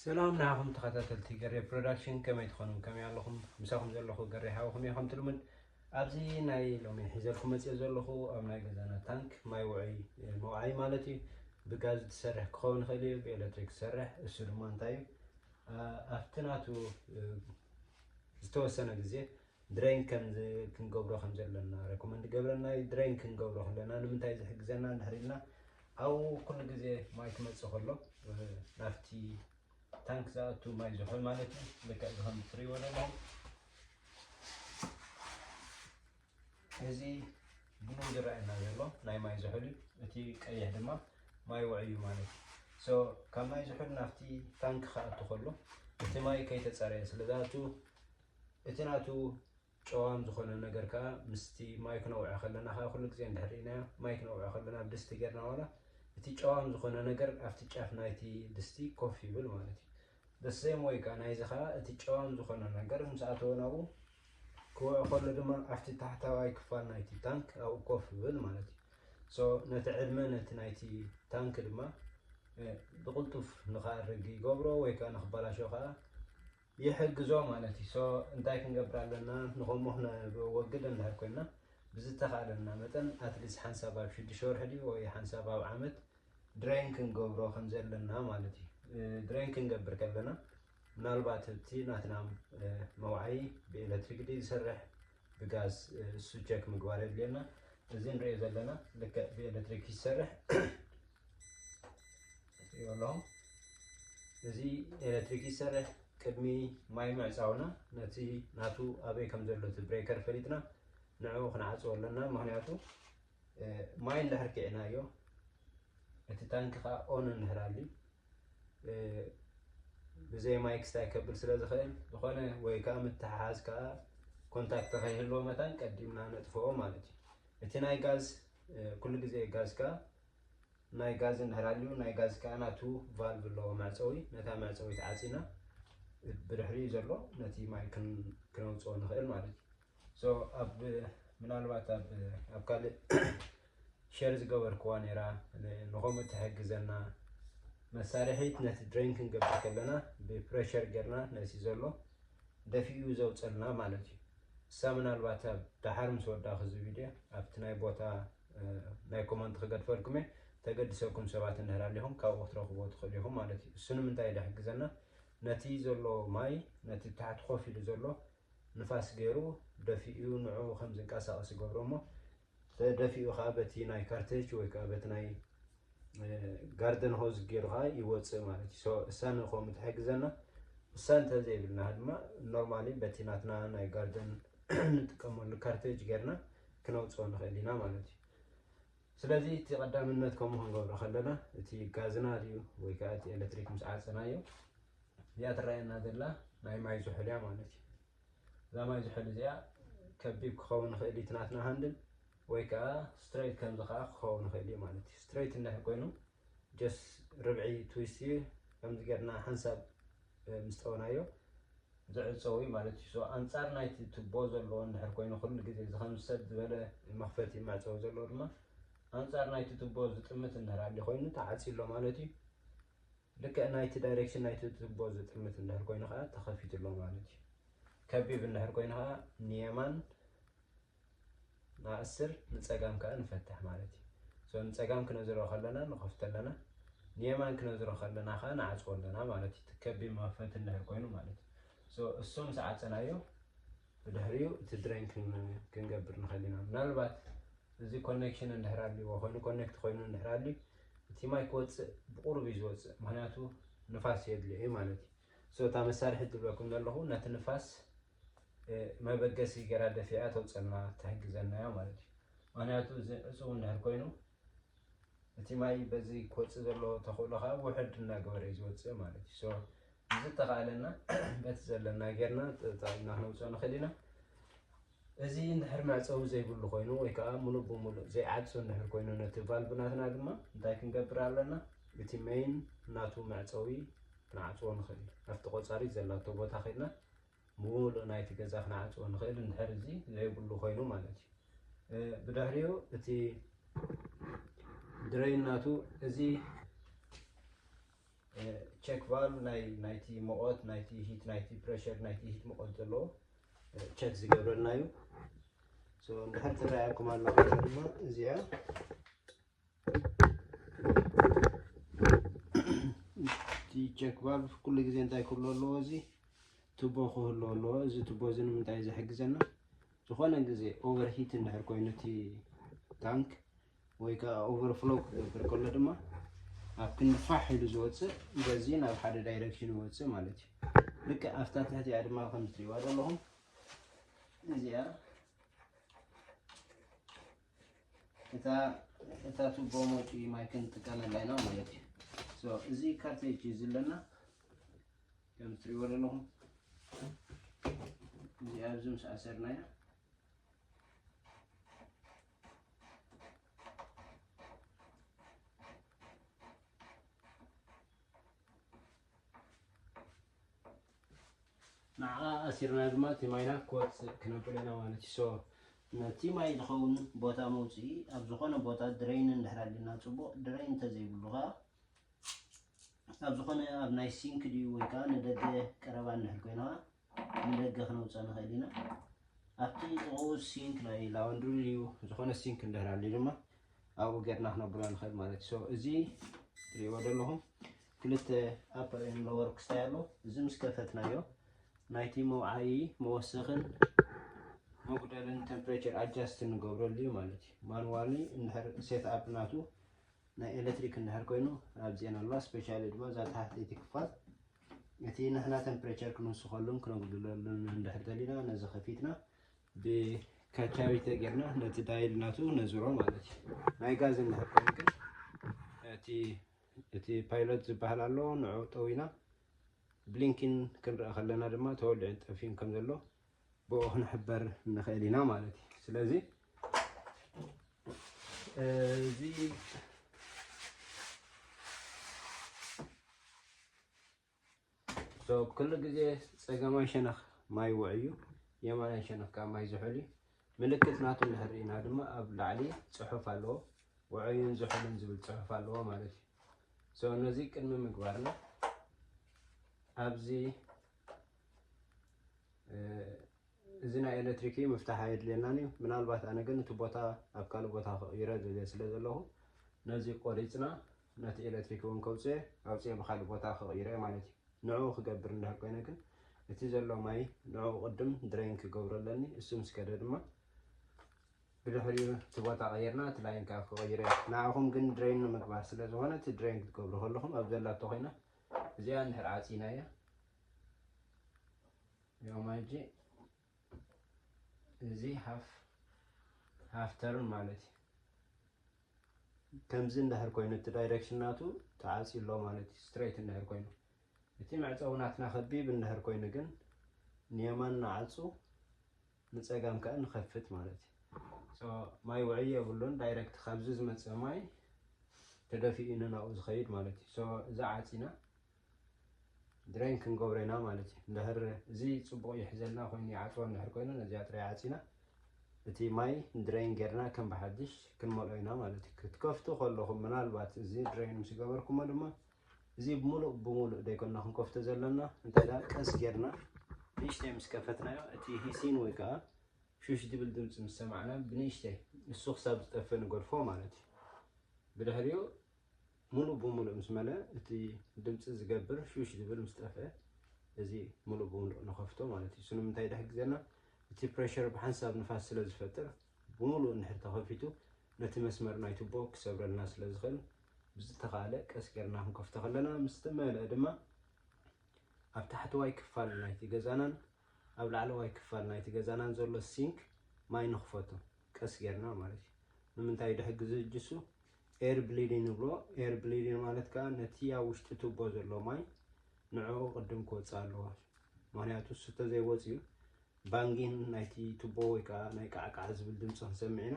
ሰላም ንዓኹም ተኸታተልቲ ገሬ ፕሮዳክሽን ከመይ ትኾኑ ከመይ ኣለኹም ምሳኹም ዘለኹ ገሬ ሓውኹም እየ ከምቲ ልሙድ ኣብዚ ናይ ሎሚ ሒዘልኩም መፅኦ ዘለኹ ኣብ ናይ ገዛና ታንክ ማይ ውዑይ መውዓይ ማለት እዩ ብጋዝ ዝሰርሕ ክኸውን ይኽእል እዩ ብኤሌክትሪክ ዝሰርሕ እሱ ድማ እንታይ እዩ ኣብቲ ናቱ ዝተወሰነ ግዜ ድረይን ከምዚ ክንገብሮ ከም ዘለና ረኮመንድ ገብረና እዩ ድረይን ክንገብሮ ከለና ንምንታይ ዝሕግዘና እንድሕር ኢልና ኣብኡ ኩሉ ግዜ ማይ ክመፅእ ከሎ ናብቲ ታንክ ዝኣቱ ማይ ዝሑል ማለት እዩ ልክዕ እዚ ከም እትሪእዎ ዘለኹም እዚ ብሉ ዝረኣየና ዘሎ ናይ ማይ ዝሑል እዩ እቲ ቀይሕ ድማ ማይ ውዕዩ ማለት እዩ ሶ ካብ ማይ ዝሑል ናብቲ ታንክ ክኣቱ ከሎ እቲ ማይ ከይተፀረየ ስለ ዝኣቱ እቲ ናቱ ጨዋም ዝኾነ ነገር ከኣ ምስቲ ማይ ክነውዕዕ ከለና ከኣ ኩሉ ግዜ እንድሕር ርኢናዮ ማይ ክነውዕዕ ከለና ኣብ ድስቲ ጌርና ዋላ እቲ ጨዋም ዝኾነ ነገር ኣብቲ ጫፍ ናይቲ ድስቲ ኮፍ ይብል ማለት እዩ። the same way ከኣ ናይዚ ከኣ እቲ ጨዋም ዝኾነ ነገር ምስ ኣተወ ናብኡ ክውዕ ከሎ ድማ ኣብቲ ታሕታዋይ ክፋል ናይቲ ታንክ ኣብኡ ኮፍ ይብል ማለት እዩ። ሶ ነቲ ዕድመ ነቲ ናይቲ ታንክ ድማ ብቕልጡፍ ንኸኣርግ ይገብሮ ወይ ከኣ ንክበላሾ ከኣ ይሕግዞ ማለት እዩ so እንታይ ክንገብር ኣለና ንከምኡ ክነወግድ እንድሕር ኮይና ብዝተካእለና መጠን at least ሓንሳብ ኣብ ሽዱሽተ ወርሒ ድዩ ወይ ሓንሳብ ኣብ ዓመት ድሬን ክንገብሮ ከም ዘለና ማለት እዩ ድሬን ክንገብር ከለና ምናልባት እቲ ናትና መውዓዪ ብኤሌክትሪክ ድዩ ዝሰርሕ ብጋዝ እሱ ቸክ ምግባር የድልየና እዚ ንሪኦ ዘለና ልክዕ ብኤሌክትሪክ ይሰርሕ ይበሎም እዚ ኤሌክትሪክ ይሰርሕ ቅድሚ ማይ ምዕፃውና ነቲ ናቱ ኣበይ ከም ዘሎ እቲ ብሬከር ፈሊጥና ንዕኡ ክንዓፅዎ ኣለና ምክንያቱ ማይ እንድሕር ኪዕናዮ እቲ ታንኪ ከዓ ኦን እንድሕር ኣልዩ ብዘይ ማይ ክስታይ ከብል ስለ ዝኽእል ዝኾነ ወይ ከዓ ምትሕሓዝ ከዓ ኮንታክት ከይህልዎ መታን ቀዲምና ነጥፍኦ ማለት እዩ እቲ ናይ ጋዝ ኩሉ ግዜ ጋዝ ከዓ ናይ ጋዝ እንድሕር ኣልዩ ናይ ጋዝ ከዓ ናቱ ቫልቭ ኣለዎ መዕፀዊ ነታ መዕፀዊት ዓፂና ብድሕሪኡ ዘሎ ነቲ ማይ ክነውፅኦ ንኽእል ማለት እዩ ምናልባት ኣብ ካልእ ሸር ዝገበርክዋ ነይራ ንኸምኡ ትሕግዘና መሳርሒት ነቲ ድሬን ክንገብር ከለና ብፕሬሸር ጌርና ነቲ ዘሎ ደፊኡ ዘውፀልና ማለት እዩ እሳ ምናልባት ኣብ ደሓር ምስ ወዳእኹ እዚ ቪድዮ ኣብቲ ናይ ቦታ ናይ ኮመንት ክገድፈልኩም እየ ተገድሰኩም ሰባት እንድሕር ኣለኹም ካብኡ ክትረኽብዎ ትኽእሉ ኢኹም ማለት እዩ እሱ ንምንታይ ድሕግዘና ነቲ ዘሎ ማይ ነቲ ታሕቲ ኮፍ ኢሉ ዘሎ ንፋስ ገይሩ ደፊኡ ንዕኡ ከም ዝንቀሳቐስ ይገብሮ እሞ ተደፊኡ ከኣ በቲ ናይ ካርተጅ ወይ ከኣ በቲ ናይ ጋርደን ሆዝ ገይሩ ከኣ ይወፅእ ማለት እዩ ሶ እሳ ንኸምኡ ትሕግዘና እሳ እንተዘይብልና ድማ ኖርማሊ በቲ ናትና ናይ ጋርደን ንጥቀመሉ ካርተጅ ገይርና ክነውፅኦ ንኽእል ኢና ማለት እዩ ስለዚ እቲ ቀዳምነት ከምኡ ክንገብሮ ከለና እቲ ጋዝና ድዩ ወይ ከዓ እቲ ኤሌክትሪክ ምስ ዓፀናዮ እዚኣ ትረኣየና ዘላ ናይ ማይ ዝሑል እያ ማለት እዩ። እዛ ማይ ዝሑል እዚኣ ከቢብ ክኸውን ይኽእል እዩ ናትና ሃንድል ወይ ከዓ ስትሬት ከምዚ ከዓ ክኸውን ይኽእል እዩ ማለት እዩ። ስትሬት እንድሕር ኮይኑ ጀስ ርብዒ ትዊስት እዩ ከምዚ ጌርና ሓንሳብ ምስ ጠበናዮ ዝዕፀው እዩ ማለት እዩ። ኣንፃር ናይቲ ቱቦ ዘለዎ እንድሕር ኮይኑ ኩሉ ግዜ እዚ ከም ሰብ ዝበለ መኽፈቲ መዕፀዊ ዘለዎ ድማ ኣንፃር ናይቲ ቱቦ ዝጥምት እንድሕር ኣሊ ኮይኑ ተዓፅዩ ኣሎ ማለት እዩ። ልክዕ ናይቲ ዳይሬክሽን ናይቲ ትቦ ዝጥምት እንድሕር ኮይኑ ከዓ ተኸፊቱ ኣሎ ማለት እዩ። ከቢብ እንድሕር ኮይኑ ከዓ ንየማን ንኣስር ንፀጋም ከዓ ንፈትሕ ማለት እዩ። ሶ ንፀጋም ክነዝሮ ከለና ንኸፍቶ ኣለና፣ ንየማን ክነዝሮ ከለና ከዓ ንዓፅዎ ኣለና ማለት እዩ። እቲ ከቢብ መኽፈቲ እንድሕር ኮይኑ ማለት እዩ። ሶ እሱ ምስ ዓፀናዮ ብድሕሪኡ እቲ ድሬን ክሊን ክንገብር ንኽእል ኢና። ምናልባት እዚ ኮኔክሽን እንድሕር ኣልዎ ኮይኑ ኮኔክት ኮይኑ እንድሕር ኣልዩ እቲ ማይ ክወፅእ ብቑሩብ እዩ ዝወፅእ ምኽንያቱ ንፋስ የድልዮ እዩ ማለት እዩ። ሶ እታ መሳርሒት ዝብለኩም ዘለኹ ነቲ ንፋስ መበገሲ ገይራ ደፊኣ ተውፀልና ትሕግዘና እያ ማለት እዩ። ምኽንያቱ እዚ ዕፁው እንድሕር ኮይኑ እቲ ማይ በዚ ክወፅእ ዘለዎ ተኽእሎ ከዓ ውሕድ እናገበረ እዩ ዝወፅእ ማለት እዩ። ሶ ብዝተኻእለና በቲ ዘለና ጌርና ተጠቒምና ክነውፅኦ ንኽእል ኢና። እዚ እንድሕር መዕፀዊ ዘይብሉ ኮይኑ ወይ ከዓ ሙሉእ ብሙሉእ ዘይዓፁ እንድሕር ኮይኑ ነቲ ቫልቭ ናትና ድማ እንታይ ክንገብር ኣለና? እቲ መይን ናቱ መዕፀዊ ክንዓፅዎ ንኽእል። ኣብቲ ቆፃሪት ዘላቶ ቦታ ከይድና ምሉእ ናይቲ ገዛ ክንዓጽዎ ንኽእል እንድሕር እዚ ዘይብሉ ኮይኑ ማለት እዩ ብድሕሪኡ እቲ ድረይን ናቱ እዚ ቸክ ቫልቭ ናይ ናይቲ ሙቐት ናይቲ ሂት ናይቲ ፕሬሽር ናይቲ ሂት ሙቐት ዘለዎ ቸክ ዝገብረልና እዩ እንድሕር ትረኣየኩም ኣሎ ድማ እዚኣ እቲ ቼክ ቫልቭ ኩሉ ግዜ እንታይ ክህሉ ኣለዎ እዚ ቱቦ ክህሉ ኣለዎ እዚ ቱቦ እዚ ንምንታይ ዝሕግዘና ዝኾነ ግዜ ኦቨር ሂት እንድሕር ኮይኑ እቲ ታንክ ወይ ከዓ ኦቨር ፍሎ ክገብር ከሎ ድማ ኣብ ክንዲ ፋሕ ኢሉ ዝወፅእ በዚ ናብ ሓደ ዳይሬክሽን ይወፅእ ማለት እዩ ልክዕ ኣብታ ትሕቲኣ ድማ ከም ትሪእዋ ዘለኹም እዚኣ እታ እታ ቱቦ መውጪ ማይ ክንጥቀመላ ኢና ማለት እዩ ሶ እዚ ካርቴጅ እዩ ዘለና ከም ትሪእዎ ዘለኹም እዚ ኣብዚ ምስ ኣሰርናያ ንዓኣ ኣሲርና ድማ እቲ ማይና ክወፅእ ክነብሎ ኢና ማለት እዩ። So ነቲ ማይ ዝኸውን ቦታ መውፅኢ ኣብ ዝኾነ ቦታ ድረይን እንድሕር ኣሊና ፅቡቕ ድረይን እንተዘይብሉ ከዓ ኣብ ዝኾነ ኣብ ናይ ሲንክ ድዩ ወይ ከዓ ንደገ ቀረባ እንድሕር ኮይና ንደገ ክነውፅኣ ንኽእል ኢና። ኣብቲ ጥቕኡ ሲንክ ናይ ላወንድሪ ድዩ ዝኾነ ሲንክ እንድሕር ኣልዩ ድማ ኣብኡ ጌርና ክነብሎ ንኽእል ማለት እዩ። እዚ ትሪእዎ ዘለኹም ክልተ ኣፐር ኤንድ ሎወር ክስታይ ኣሎ እዚ ምስ ከፈትናዮ ናይቲ መውዓዪ መወሰኽን መጉደልን ቴምፕሬቸር ኣጃስት ንገብረሉ እዩ ማለት እዩ ማንዋሊ እንድሕር ሴት ኣፕ ናቱ ናይ ኤሌክትሪክ እንድሕር ኮይኑ ኣብዚኤን ኣለዋ ስፔሻሊ ድማ እዛ ተሓተይቲ ክፋል እቲ ንሕና ቴምፕሬቸር ክንውስኸሉን ክነጉድለሉን እንድሕር ደሊና ነዚ ከፊትና ብካቻሪ ተጌርና ነቲ ዳይል ናቱ ነዝሮ ማለት እዩ ናይ ጋዝ እንድሕር ኮይኑ ግን እቲ እቲ ፓይሎት ዝበሃል ኣሎ ንዑ ጠዊና ብሊንኪን ክንረአ ከለና ድማ ተወሊዑን ጠፊኡን ከም ዘሎ ብኡ ክንሕበር ንኽእል ኢና ማለት እዩ ስለዚ እዚ So ኩሉ ግዜ ጸጋማይ ሸነኽ ማይ ውዑይ'ዩ፣ የማናይ ሸነኽ ከኣ ማይ ዝሑል'ዩ። ምልክት ናቱ እንድሕር ርኢና ድማ ኣብ ላዕሊ ጽሑፍ ኣለዎ፣ ውዑይን ዝሑልን ዝብል ጽሑፍ ኣለዎ ማለት እዩ። So ነዚ ቅድሚ ምግባርና ኣብዚ እዚ ናይ ኤሌክትሪክ እዩ ምፍታሕ ኣየድልየናን እዩ። ምናልባት ኣነ ግን እቲ ቦታ ኣብ ካልእ ቦታ ክቕይሮ ደልየ ስለ ዘለኹ ነዚ ቆሪጽና ነቲ ኤለትሪክ እውን ከውጽኤ ኣውጽኤ ብካልእ ቦታ ክቕይሮ እየ ማለት እዩ። ንዕኡ ክገብር እንድሕር ኮይነ ግን እቲ ዘሎ ማይ ንዕኡ ቅድም ድረይን ክገብሮ ኣለኒ። እሱ ምስ ከደ ድማ ብድሕሪኡ እቲ ቦታ ቀይርና እቲ ላይን ከዓ ክቕይሮ እየ። ንዓኹም ግን ድረይን ንምግባር ስለ ዝኾነ እቲ ድረይን ክትገብሩ ከለኹም ኣብ ዘላቶ ኮይና እዚኣ እንድሕር ዓጺናያ ያው ማይ እጂ እዚ ሃፍ ሃፍ ተርን ማለት እዩ ከምዚ እንድሕር ኮይኑ እቲ ዳይሬክሽን ናቱ ተዓፅዩ ኣሎ ማለት እዩ ስትሬት እንድሕር ኮይኑ እቲ መዕፀዊ ናትና ከቢብ እንድሕር ኮይኑ ግን ንየማን ንዓፁ ንፀጋም ከዓ ንኸፍት ማለት እዩ ማይ ውዕይ የብሉን ዳይሬክት ካብዚ ዝመፅእ ማይ ተደፊኡ ንናብኡ ዝኸይድ ማለት እዩ እዚ ዓፂና ድሬን ክንገብሮ ኢና ማለት እዩ እንድሕር እዚ ፅቡቕ ይሕዘልና ኮይኑ ይዓፅዎ እንድሕር ኮይኑ ነዚኣ ጥራይ ዓፂና እቲ ማይ ድሬን ጌርና ከም ብሓድሽ ክንመልኦ ኢና ማለት እዩ ክትከፍቱ ከለኹም ምናልባት እዚ ድሬን ምስ ገበርኩሞ ድማ እዚ ሙሉእ ብሙሉእ ደይኮና ክንከፍቶ ዘለና እንታይ ደኣ ቀስ ጌርና ንእሽተይ ምስ ከፈትናዮ እቲ ሂሲን ወይ ከዓ ሹሽ ዝብል ድምፂ ምስ ሰማዕና ብንእሽተይ እሱ ክሳብ ዝጠፍእ ንገድፎ ማለት እዩ ብድሕሪኡ ሙሉእ ብሙሉእ ምስ መልኣ እቲ ድምፂ ዝገብር ሹሽ ዝብል ምስ ጠፍኣ እዚ ሙሉእ ብሙሉእ ንኸፍቶ ማለት እዩ። ስለምንታይ ድሕር ግዘና እቲ ፕረሸር ብሓንሳብ ንፋስ ስለ ዝፈጥር ብሙሉእ እንድሕር ተኸፊቱ ነቲ መስመር ናይ ቱቦ ክሰብረልና ስለ ዝኽእል ብዝተኻእለ ቀስ ጌርና ክንከፍቶ ከለና ምስ ተመልኣ ድማ ኣብ ታሕተዋይ ክፋል ናይቲ ገዛናን ኣብ ላዕለዋይ ክፋል ናይቲ ገዛናን ዘሎ ሲንክ ማይ ንኽፈቶ ቀስ ጌርና ማለት እዩ። ንምንታይ ድሕር ግዘ ጅሱ ኤር ብሊዲን ንብሎ። ኤር ብሊዲን ማለት ከኣ ነቲ ኣብ ውሽጢ ቱቦ ዘሎ ማይ ንዕኡ ቅድም ክወጽእ ኣለዎ። ምክንያቱ እሱ ተዘይወጽዩ ባንጊን ናይቲ ቱቦ ወይ ከኣ ናይ ቃዕቃዕ ዝብል ድምፂ ክንሰምዕ ኢና።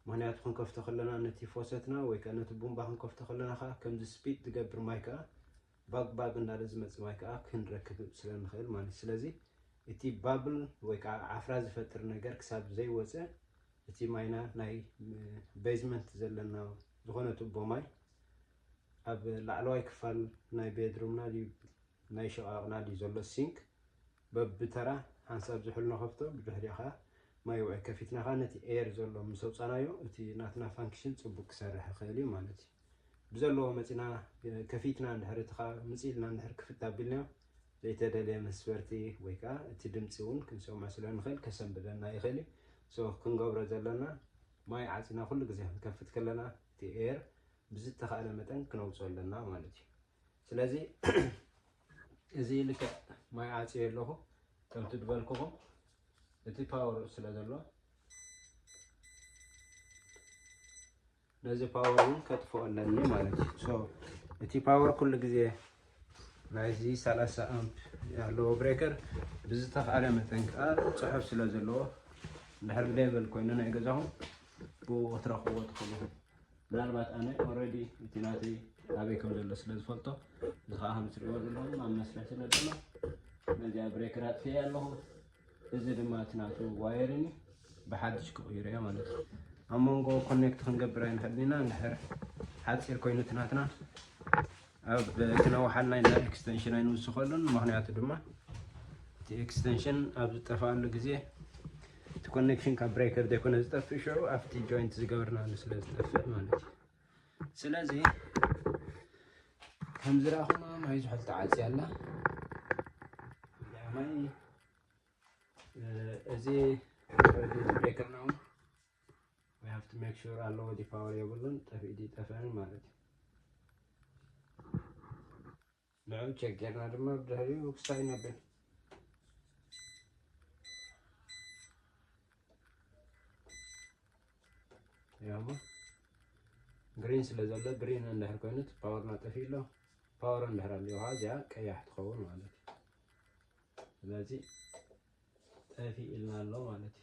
ምክንያቱ ክንከፍቶ ከለና ነቲ ፎሰትና ወይ ከኣ ነቲ ቡምባ ክንከፍቶ ከለና ከኣ ከምዚ ስፒድ ዝገብር ማይ ከኣ ባግ ባግ እንዳለ ዝመጽእ ማይ ከኣ ክንረክብ ስለ ንክእል ማለት እዩ። ስለዚ እቲ ባብል ወይ ከኣ ዓፍራ ዝፈጥር ነገር ክሳብ ዘይወጸ እቲ ማይና ናይ በይዝመንት ዘለና ዝኾነ ቱቦ ማይ ኣብ ላዕለዋይ ክፋል ናይ ቤድሩምና ድዩ ናይ ሽቓቕና ድዩ ዘሎ ሲንክ በብተራ ሓንሳብ ዝሑል ንኸፍቶ ብድሕሪኡ ከዓ ማይ ውዑይ ከፊትና ከዓ ነቲ ኤየር ዘሎ ምስ ኣውፃናዮ እቲ ናትና ፋንክሽን ፅቡቅ ክሰርሕ ይኽእል እዩ ማለት እዩ። ብዘለዎ መጺና ከፊትና እንድሕር እቲ ከኣ ምጽእ ኢልና እንድሕር ክፍት ኣቢልናዮ ዘይተደልየ መስበርቲ ወይ ከኣ እቲ ድምጺ እውን ክንሰምዖ ስለ ንኽእል ከሰንብደና ይኽእል እዩ so ክንገብሮ ዘለና ማይ ዓጺና ኩሉ ግዜ ክንከፍት ከለና እቲ air ብዝተኻእለ መጠን ክነውጽኦ ኣለና ማለት እዩ ስለዚ እዚ ልክዕ ማይ ዓጽየ ኣለኹ ከምቲ ዝበልኩኹም እቲ ፓወር ስለ ዘሎ ነዚ ፓወር እውን ከጥፍኦ ኣለኒ ማለት እዩ ሶ እቲ ፓወር ኩሉ ግዜ ናይዚ 30 ኣምፕ ኣለዎ ብሬከር ብዝተኽኣለ መጠን ከዓ ፅሑፍ ስለ ዘለዎ እንድሕር ሌቨል ኮይኑ ናይ ገዛኹም ብኡ ክትረኽብዎ ትኽእሉ ምናልባት ኣነ ኦልሬዲ እቲ ናተይ ኣበይ ከም ዘሎ ስለ ዝፈልጦ እዚ ከዓ ከም ትሪእዎ ዘለኹም ኣብ መስርሕ ስለ ዘሎ ነዚኣ ብሬከር ኣጥፍኤ ኣለኹ እዚ ድማ እቲ ናቱ ዋየርን እዩ ብሓድሽ ክቕይሮ እየ ማለት እዩ ኣብ መንጎ ኮኔክት ክንገብር ኣይንሕልና እንድሕር ሓፂር ኮይኑ እቲ ናትና ኣብ ክነውሓልና ኢና ኤክስተንሽን ኣይንውስኸሉን ምክንያቱ ድማ እቲ ኤክስተንሽን ኣብ ዝጠፍኣሉ ግዜ እቲ ኮኔክሽን ካብ ብሬከር ዘይኮነ ዝጠፍእ ሽዑ ኣብቲ ጆይንት ዝገበርናሉ ስለ ዝጠፍእ ማለት እዩ ስለዚ ከም ዝረኣኹማ ማይ ዝሑል ተዓፅያ ኣላ ማይ እዚ ብሬከርና እውን we have to make sure ኣለዎ ዲ ፓወር የብሉን ጠፊኡ ዲ ጠፈን ማለት እዩ ንዑ ቸጌርና ድማ ብድሕሪኡ ክሳይ ነብል ያሞ ግሪን ስለ ዘሎ ግሪን እንድሕር ኮይኑ እቲ ፓወርና ጠፊኡ ኣሎ ፓወር እንድሕር ኣለዋ እዚኣ ቀያሕ ትኸውን ማለት እዩ ስለዚ ጠፊ ኢልና ኣሎ ማለት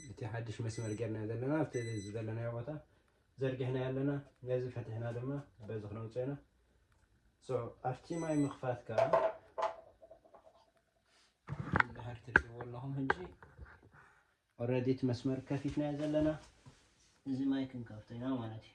እዩ እቲ ሓድሽ መስመር ጌርና ዘለና ኣብቲ ዝደለናዮ ቦታ ዘርጊሕናዮ ኣለና ነዚ ፈቲሕና ድማ በዚ ክነውፅኦ ኢና ሶ ኣብቲ ማይ ምኽፋት ከዓ ድሕር ትሪእዎ ኣለኹም ሕጂ ኦልሬዲ እቲ መስመር ከፊትናዮ ዘለና እዚ ማይ ክንከፍቶ ኢና ማለት እዩ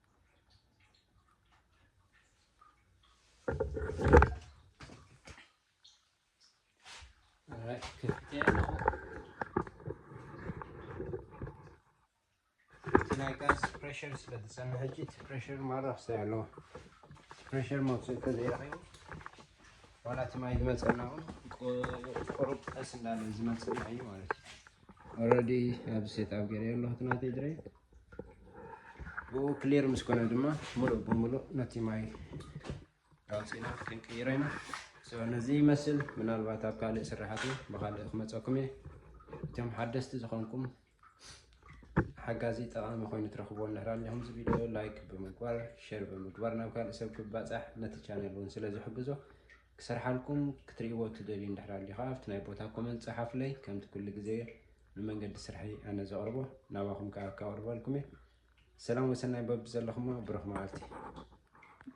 ፕሬሽር ስለ ዝፀንሐ ሕጂ እቲ ፕሬሽር ማራ ክሳይ ኣለዎ ፕሬሽር መውፅኢ ተዘይረኺቡ ዋላ እቲ ማይ ዝመፀና እውን ቁሩብ ቀስ እንዳለ ዝመፅና እዩ ማለት እዩ ኦልሬዲ ኣብ ሴት ኣብ ገይረ ኣለኹ ናተይ ድረይ ብኡ ክሊር ምስ ኮነ ድማ ሙሉእ ብሙሉእ ነቲ ማይ ኣውፂእና ክንቅይሮ ኢና ነዚ ይመስል ምናልባት ኣብ ካልእ ስራሕቲ ብካልእ ክመፀኩም እየ እቶም ሓደስቲ ዝኾንኩም ሓጋዚ ጠቃሚ ኮይኑ ትረኽቦ እንድሕር ኣለኹም እዚ ቪድዮ ላይክ ብምግባር ሸር ብምግባር ናብ ካልእ ሰብ ክባፃሕ ነቲ ቻነል እውን ስለ ዝሕግዞ ክሰርሓልኩም ክትሪእዎ ትደልዩ እንድሕር ኣልዩካ ኣብቲ ናይ ቦታ ኮመንት ጸሓፉለይ ከምቲ ኩሉ ግዜ ንመንገዲ ስርሐይ ኣነ ዘቅርቦ ናባኩም ከኣ ከቅርበልኩም እየ ሰላም ወሰናይ በብዘለኩሞ ብሩክ መዓልቲ።